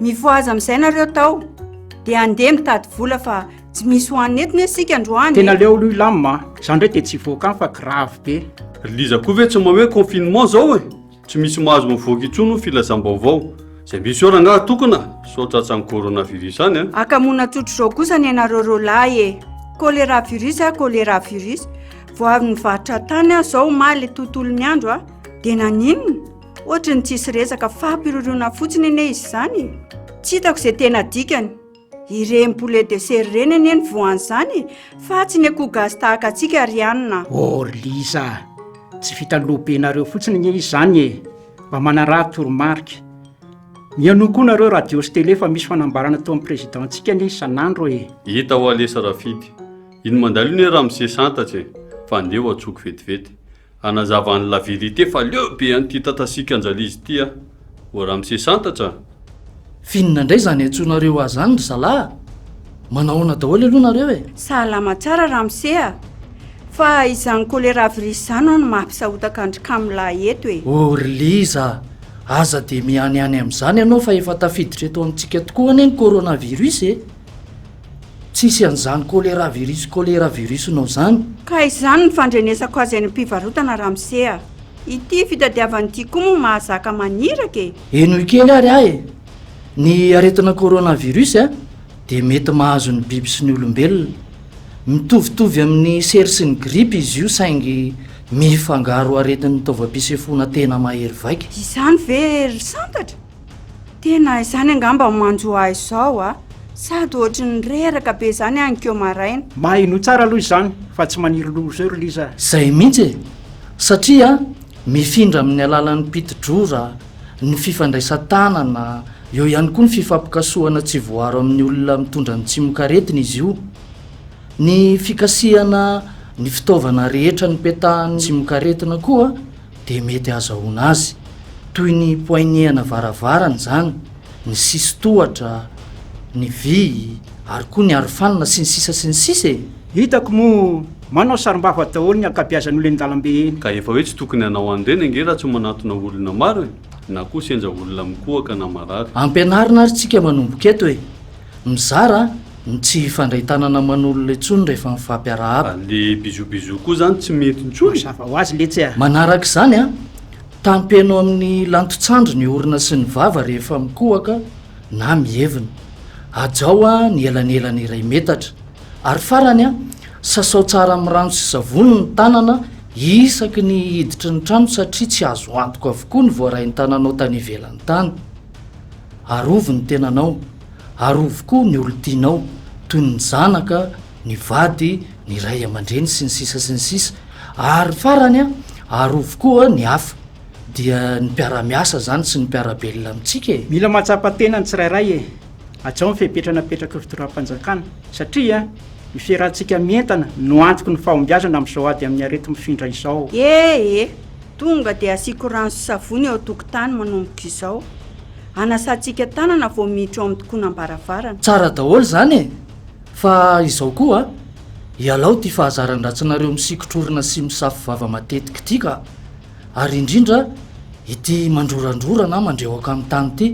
Mifohaza amin'izay nareo tao dia andeha mitady vola fa tsy misy ho an'ny eto ne sika androany e. Tena leo lui lam a. Za ndray dia tsy hivoaka any fa grave be. Ry Liza koa ve tsy maha hoe confinement zao e? Tsy misy mahazo mivoaka intsony hoy filazam-baovao. Zay misy eo rangaha tokona sao tratran'ny coronavirus any an. Akamoana tsotr'izao kosa ny anareo roalahy e. Choléra virus a choléra virus. Vao avy nivarotra tany aho zao omaly tontolon'ny andro a. Dia naninona? Ohatry ny tsisy resaka fampiroroana fotsiny anie izy izany e. Tsy hitako izay tena dikany. Ireny poulet de serre ireny anie ny voan'izany e, fa tsy ny akoho gasy tahaka antsika ry anona. Or Liza a! Tsy vitan'ny lohabenareo fotsiny anie izy izany e. Mba manaraha toromarika. Mihainoa koa nareo radio sy télé fa misy fanambarana ataon'ny Président-ntsika anie isan'andro e. Hita wa lesa Rafidy. Iny mandalo iny e ramose santatsa e. Fa andeha ho antsoiko vetivety. Hanazava an'i la vérité fa leo be an'ity tatasika anjalizy ity a! Ô ramose santatra a! F'inona indray izany antsoinareo ahy izany ry zalahy? Manahoana daholo aloha nareo e? Salama tsara ramose a! Fa izany choléra virus izany hono mahampisahotaka an-dry kamolahy eto e! Ô ry liza a! Aza dia mianiany amin'izany ianao fa efa tafiditra eto amintsika tokoa anie ny coronavirus e! Tsisy an'izany choléra virus choléra virus nao zany. Ka izany ny fandrenesako azy any am-pivarotana ramose a! Ity fitadiavany ity koa moa mahazaka maniraka e! Henoy kely ary aho e! Ny aretina corona virus a dia mety mahazo ny biby sy ny olombelona. Mitovitovy amin'ny sery sy ny gripa izy io saingy mifangaro aretin'ny taovam-pisefoana tena mahery vaika. Izany ve ry Santatra? Tena izany angamba no manjo ahy izao a! Sady ohatry ny reraka be izany any ko maraina. Maheno tsara aloha izany fa tsy maniry loha izao ry Liza a! Izay mihitsy e! Satria mifindra amin'ny alalan'ny piti-drora, ny fifandraisan-tanana, eo ihany koa ny fifampikasohana tsy voaro amin'ny olona mitondra ny tsimokaretina izy io. Ny fikasihana ny fitaovana rehetra nipetahan'ny tsimokaretina koa dia mety hahazahoana azy. Toy ny poignée-ana varavarana izany, ny sisin-tohatra, ny vy, ary koa ny arofanina, sy ny sisa sy ny sisa e! Hitako moa manao sarimbavy daholo ny ankabiazan'olo eny dalambe eny. Ka efa hoe tsy tokony hanao an'ireny ange raha tsy manatona olona maro e! Na koa sendra olona mikohaka na marary. Ampianarina ary tsika manomboka eto e! Mizara ny tsy hifandray tanana aman'olona intsony rehefa mifampiarahaba. Ary le bisous bisous koa zany tsy mety intsony. Mazava ho azy letsy a! Manaraka izany a, tampeno amin'ny lanton-tsandry ny orona sy ny vava rehefa mikohaka na mievina. Hajao a ny elanelany iray metatra. Ary farany a, sasao tsara amin'ny rano sy savony ny tanana isaky ny hiditry ny trano satria tsy azo antoka avokoa ny voarain-tananao tany ivelany tany. Arovy ny tenanao, arovy koa ny olon-tianao, toy ny zanaka, ny vady, ny ray aman-dreny, sy ny sisa sy ny sisa. Ary farany an, arovy koa ny hafa. Dia ny mpiara-miasa izany sy ny mpiara-belona amintsika e! Mila mahatsapa tena ny tsirairay e! Hajao ny fepetra napetrak'ireo fitondram-panjakana, satria ny fiarahantsika mientana no antoky ny fahombiazana amin'izao ady amin'ny areti-mifindra izao. Ee. Tonga dia asiako rano sy savony eo an-tokotany manomboka izao. Anasantsika tanana vao miditra ao amin'ny tokonam-baravarana. Tsara daholo izany e! Fa izao koa a! Ialao ity fahazaran-dratsinareo misikotr' orona sy misafo vava matetika ity ka! Ary indrindra ity mandrorandrora na mandrehoka amin'ny tany ity.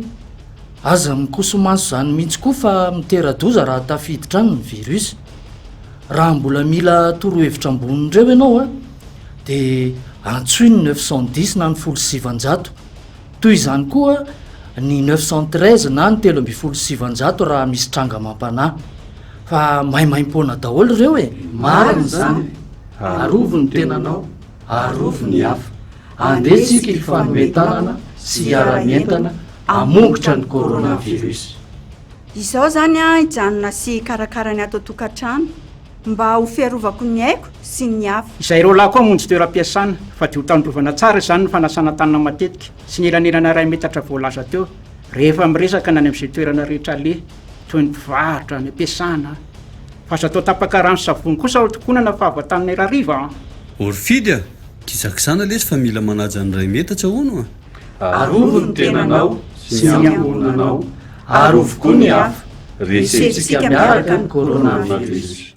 Aza mikoso-maso izany mihitsy koa fa mitera-doza raha tafiditra any ny virus. Raha mbola mila torohevitra ambonin'ireo ianao a! dia antsoy ny neuf cent dix na ny folo sy sivanjato. Toy izany koa ny neuf cent treize na ny telo ambin'ny folo sy sivanjato raha misy tranga amam-panahy. Fa maimaim-poana daholo ireo e! Marina izany. Arovy ny tenanao, arovy ny hafa. Andeha isika hifanome tanana sy hiara-mientana hamongotra ny coronavirus. Izao izany hijanona sy hikarakara ny ato an-tokantrano. Mba ho fiarovako ny aiko sy ny hafa. Izay ireo lahy koa hamonjy toeram-piasana. Fa dia ho tandrovana tsara izany ny fanasana tanana matetika sy ny elanelana iray metatra voalaza teo rehefa miresaka ny any amin'izay toerana rehetra aleha, toy ny mpivarotra, any am-piasana. Fa aza atao tapaka rano sy savony kosa ao tokonana fa avy an-tany ny rariva an! Orfidy a! Gizagizana lesy fa mila manaja ny iray metatra hono a! Arovy ny tenanao sy ny ankohonanao, arovy koa ny hafa. Resentsika miaraka ny coronavirus.